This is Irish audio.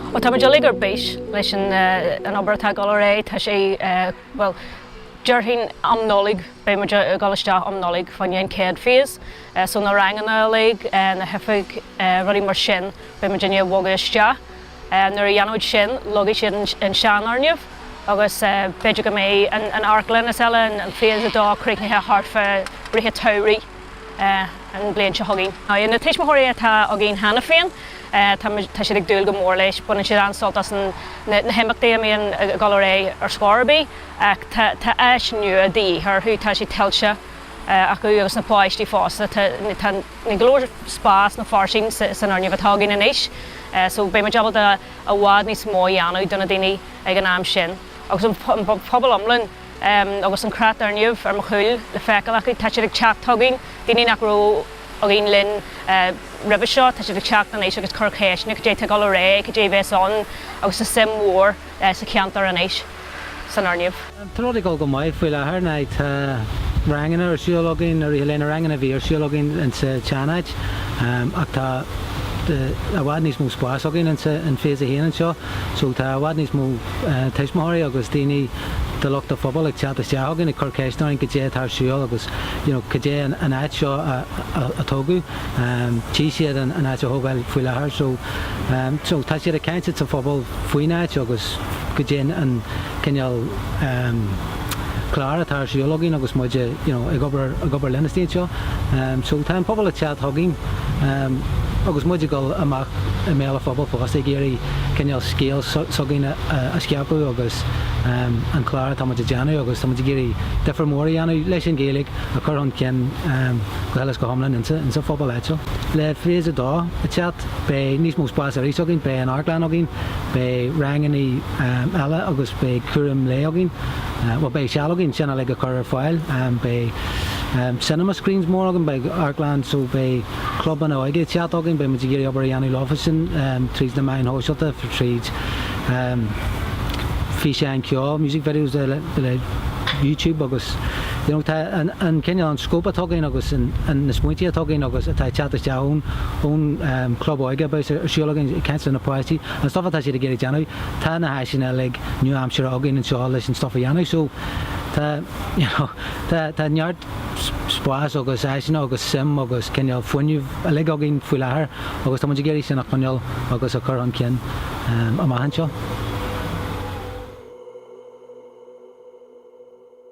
Ó tá muid uilig ar bís leis an obair atá ag dul ar aghaidh. Tá sé, bhuel, déarfainn um Nollaig, beidh muid ag dul isteach um Nollaig fá choinne an chéad phase, so na ranganna uilig, na hoifigí, rudaí mar sin, beidh muidinne ag bogadh isteach. Nuair a dhéanaimid sin leagfaidh siad an seanfhoirgneamh agus b'fhéidir go mbeidh an amharclann is eile, an Phase a dó, críochnaithe thart fá ráithe an tsamhraidh an bhliain seo chugainn. Na tuismitheoirí atá againn cheana féin, tá siad ag dúil go mór leis. Baineann siad an-sult as na himeachtaí a bíonn ag dul ar aghaidh ar scor ar bith ach tá áis nua de dhíth orthu. Tá sé tuillte acu agus na páistí fosta. Níl go leor spás nó fairsinge san fhoirgneamh atá againn anois so beidh muid ábalta i bhfad níos mó a dhéanamh do na daoine ag an am sin. Agus an pobal iomlán agus an creat den fhoirgneamh ar mo chúl le feiceáil acu, tá siad ag teacht chugainn, daoine nach raibh againn linn roimhe seo, tá siad ag teacht anois agus ag cur ceisteanna, cad é atá ag dul ar aghaidh, cad é a bheas ann agus tá suim mhór sa cheantar anois. san fhoirgneamh. Tá rudaí ag dul go maith faoi láthair ina dtá ranganna ar siúl againn ar aon dul leis na ranganna a bhí ar siúl againn insa tseanáit ach tá i bhfad níos mó spáis againn insa an phase a haon anseo so tá i bhfad níos mó tuismitheoirí agus daoine de lucht an phobail ag teacht isteach againn ag cur ceisteanna orainn cad é atá ar siúl agus you know cad é an áit seo a tógadh tchí siad an áit á tógáil faoi láthair so so tá siad ag caint ins an phobal faoin áit agus cad é an cineál clár atá ar siúl againn agus muid a you know ag obair ag obair le naíonáin anseo so tá an pobal ag teacht chugainn agus muid ag dul amach i mbéal an phobail fosta ag iarraidh cineál scéal s'againn a scaipeadh agus an clár atá muid a dhéanamh agus tá muid ag iarraidh difir mór a dhéanamh leis an Ghaeilge a chur chun cinn go huile is go hiomlán insa phobal áitiúil. Le Phase a dó ag teacht, beidh níos mó spás arís againn, beidh an amharclann againn, beidh ranganna eile agus beidh cúram lae againn, bhuel, beidh seal againn sin uilig a chur ar fáil. Beidh cinema screens mór againn, beidh amharclann so beidh clubanna óige ag teacht againn, beidh muid ag iarraidh obair a dhéanamh leofa sin tríd na meáin shóisialta, tríd físeáin ceoil, music videos, le YouTube agus. you know tá an an cineál an scope atá againn agus an an na smaointí atá againn agus atá ag teacht isteach ón ón um, club óige a bíos ar siúl againn ag caint le na páistí an stuff atá siad ag iarraidh déanamh tá na háiseanna uilig nua-aimseartha againn anseo leis an stuff a dhéanamh so tá you know tá tá neart spás agus áiseanna agus suim agus cineál fuinneamh uilig againn faoi láthair agus tá muid ag iarraidh sin a choinneáil agus a chur chun cinn um, amach anseo.